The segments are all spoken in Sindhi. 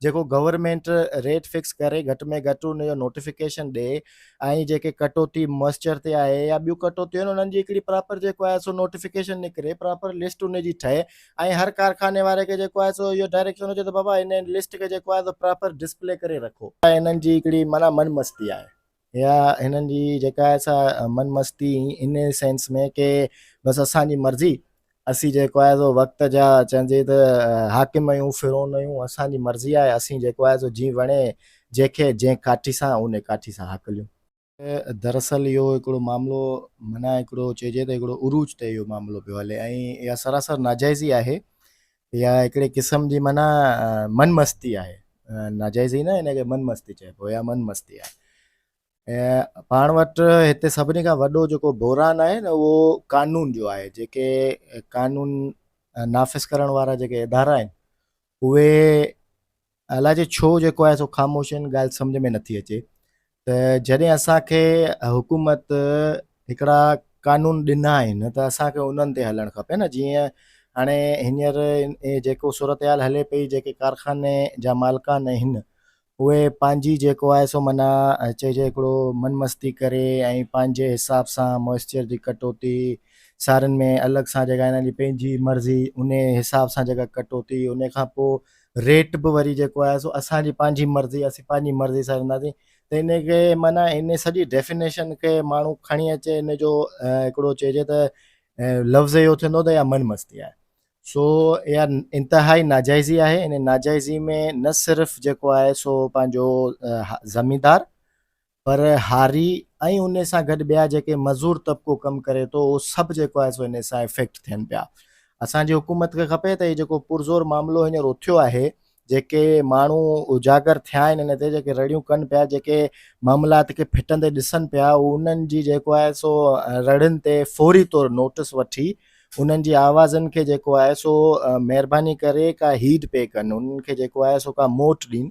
جيڪو گورنمينٽ ريٽ فڪس ڪري گهٽ ۾ گهٽ ان جو نوٽيفڪيشن ڏي ۽ جيڪي ڪٽوتي موئسچر تي آهي يا ٻيون ڪٽوتيون آهن انهن جي هڪڙي پراپر جيڪو آهي سو نوٽيفڪيشن نڪري پراپر لسٽ ان جي ٺهي ۽ هر ڪارخاني واري کي جيڪو آهي سو اهو ڊائريڪشن هجي ته بابا ان لسٽ کي جيڪو آهي سو پراپر ڊسپلي ڪري رکو انهن جي هڪڙي معنيٰ من مستي آهي يا هنن جي جيڪا آهي سا من مستي ان سينس ۾ ڪي بس اسان جي مرضي اسين جيڪو آهي سو وقت جا چئجي ته حاڪم آهيون فرعون آهيون اسان جي مرضي آهي اسين جيڪو آهي سو جي وڻي جيکي جنهن ڪاٺي سان ان ڪاٺي سان هاڪليون دراصل اهو هڪڙو معاملو منا هڪڙو چئجي ته هڪڙو عروج تي اهو معاملو پيو هلي ۽ اها سراسر ناجائزي آهي اها هڪڙي قسم جي معنيٰ من مستي آهي ناجائز ئي نه هن کي من مستي چئبو اها من مستي آهي پاڻ وٽ هتي سڀني کان وڏو جيڪو بحران آهي نه اهو قانون جو آهي جيڪي قانون نافذ ڪرڻ وارا جيڪي ادارا آهن اهي الاجي ڇو جيڪو آهي سو خاموش آهن ڳالهه سمجھ ۾ نٿي اچي ته جڏهن اسان کي حڪومت هڪڙا قانون ڏنا آهن ته اسان کي انهن تي هلڻ کپي نه جيئن هاڻي هينئر جيڪو صورتحال هلي پئي جيڪي ڪارخاني جا مالڪان آهن اهي پنهنجي جيڪو آهي سو منا چئجي هڪڙو من مستي ڪري ۽ پنهنجي حساب سان موئسچر جي ڪٽوتي سارن ۾ الڳ سان جيڪا هنن جي پنهنجي مرضي ان حساب سان جيڪا ڪٽوتي ان کان پوء ريٽ به وري جيڪو آهي سو اسان جي پنهنجي مرضي اسين پنهنجي مرضي سان وينداسين ته ان کي معنی ان سڄي ڊيفينيشن کي ماڻهو کڻي اچي ان جو هڪڙو چئجي ته لفظ اهو ٿيندو ته اها من مستي آهي سو اها انتهائي ناجائزي آهي ان ناجائزي ۾ نه صرف جيڪو آهي سو پنهنجو زميندار پر هاري ۽ ان سان گڏ ٻيا جيڪي مزور طبقو ڪم ڪري ٿو اهو سڀ جيڪو آهي سو ان سان افيڪٽ ٿين پيا اسان جي حڪومت کي کپي ته هي جيڪو پرزور معاملو هينئر اٿيو آهي جيڪي ماڻهو اجاگر ٿيا آهن ان تي جيڪي رڙيون ڪن پيا جيڪي معاملات کي ڦٽندي ڏسن پيا انهن جي جيڪو آهي سو رڙين تي فوري طور نوٽس وٺي انهن جي آوازن کي جيڪو آهي سو مهرباني ڪري ڪا هيڊ پي ڪن انهن کي جيڪو آهي سو ڪا موٽ ڏين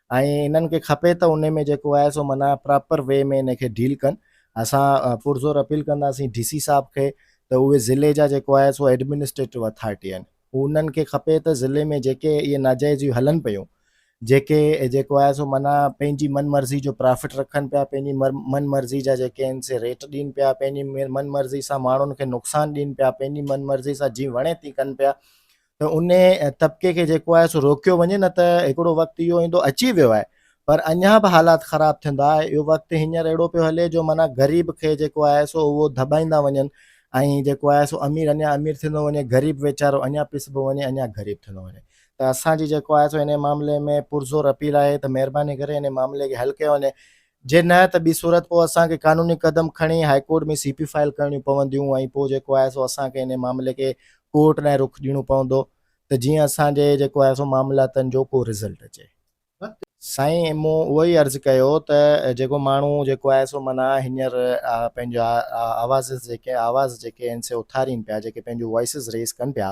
۽ انهن کي کپي ته انهي ۾ جيڪو آهي سو معنيٰ پراپر وي ۾ انهي کي ڊيل ڪن اسان پرزور اپيل ڪنداسين ڊي سي صاحب کي ته اهي ضلعي جا جيڪو آهي سو ايڊمنسٽريٽو اٿارٽي آهن انهن کي کپي ته ضلعي ۾ جيڪي اهي ناجائزيون هلن پيون جيڪي جيڪو آهي سو معنيٰ پنهنجي من مرضي جو پرافٽ رکن پيا پنهنجي من مرضي جا جيڪي آهن سي ريٽ ڏين پيا پنهنجي من مرضي سان ماڻهن کي نقصان ڏين پيا پنهنجي من مرضي سان جي وڻي تي ڪن پيا ان طبقي کي جيڪو آهي سو روڪيو وڃي نه ته هڪڙو وقت اهو ايندو اچي ويو آهي پر اڃا به حالات خراب ٿيندا اهو وقت هينئر اهڙو پيو هلي جو معنيٰ غريب کي جيڪو آهي سو اهو دٻائيندا وڃن ۽ جيڪو آهي سو امير اڃا امير ٿيندو وڃي غريب ويچارو اڃا پسبو وڃي اڃا غريب ٿيندو وڃي ته اسان جي جيڪو آهي سو ان معاملي ۾ پرزور اپيل آهي ته مهرباني ڪري ان معاملي کي حل ڪيو وڃي جي نه ته ٻي صورت پوء اسان کي قانوني قدم کڻي high court ۾ C P file ڪرڻيون پونديون ۽ پوء جيڪو آهي سو اسان کي انهي معاملي کي ڪورٽ ڏانهن رخ ڏيڻو پوندو ته جيئن اسان جي جيڪو آهي سو معاملاتن جو ڪو رزلٽ اچي. سائين مون اهو ئي عرض ڪيو ته جيڪو ماڻهو جيڪو آهي سو معنيٰ هينئر پنهنجا آوازز جيڪي آواز جيڪي آهن سي اٿارين پيا جيڪي پنهنجون وائسز ريز ڪن پيا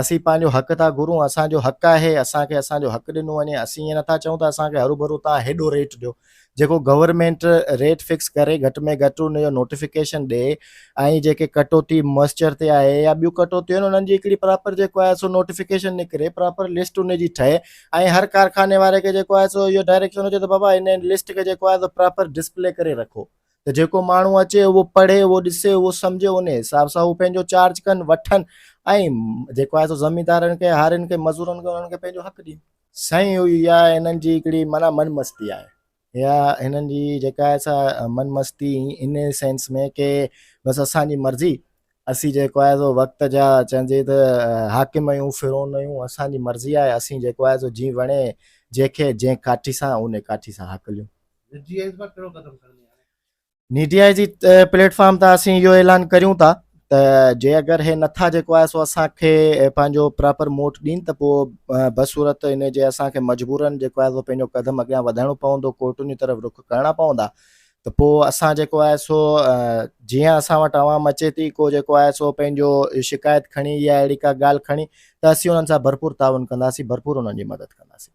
اسين پنهنجو حق ٿا گهرون، اسان جو حق آهي اسان کي اسان جو حق ڏنو وڃي، اسين ائين نٿا چئون ته اسان کي هروڀرو تان هيڏو ريٽ ڏيو، جيڪو گورنمينٽ ريٽ فڪس ڪري گهٽ ۾ گهٽ ان جو نوٽيفڪيشن ڏي ۽ جيڪي ڪٽوتي موئسچر تي آهي يا ٻيون ڪٽوتيون آهن انهن جي هڪڙي پراپر جيڪو آهي سو نوٽيفڪيشن نڪري پراپر لسٽ ان جي ٺهي ۽ هر ڪارخاني واري کي جيڪو آهي سو اهو ڊائريڪشن هجي ته بابا ان لسٽ کي جيڪو آهي سو پراپر ڊسپلي ڪري رکو ته جيڪو ماڻهو اچي اهو پڙهي اهو ڏسي اهو سمجهي ان حساب سان اهو پنهنجو چارج ڪن وٺن ۽ جيڪو آهي سو زميندارن کي هارين کي مزورن کي انهن کي پنهنجو حق ڏين سائين اها هنن جي هڪڙي مانا من مستي آهي اها هنن جي جيڪا آهي سا من مستي ان سينس ۾ ڪي بس اسان جي مرضي اسين جيڪو آهي سو وقت جا چئجي ته حاڪم آهيون فرون آهيون اسان جي مرضي آهي اسين جيڪو آهي سو جي وڻي جنهنکي جنهن ڪاٺي سان ان ڪاٺي سان حق ليون ني ڊي آء جي پليٽ فارم تان اسين اهو اعلان ڪريون ٿا ته جي اگر هي نٿا جيڪو آهي سو اسان کي پنهنجو پراپر موٽ ڏين ته پوء بصورت ان جي اسان کي مجبورن جيڪو آهي سو پنهنجو قدم اڳيان وڌائڻو پوندو ڪورٽن جي طرف رخ ڪرڻا پوندا ته پوء اسان جيڪو آهي سو جيئن اسان وٽ عوام اچي ٿي ڪو جيڪو آهي سو پنهنجو شڪايت کڻي يا اهڙي کا ڳالهه کڻي ته اسين انهن سان ڀرپور تعاون ڪنداسين ڀرپور انهن جي مدد ڪنداسين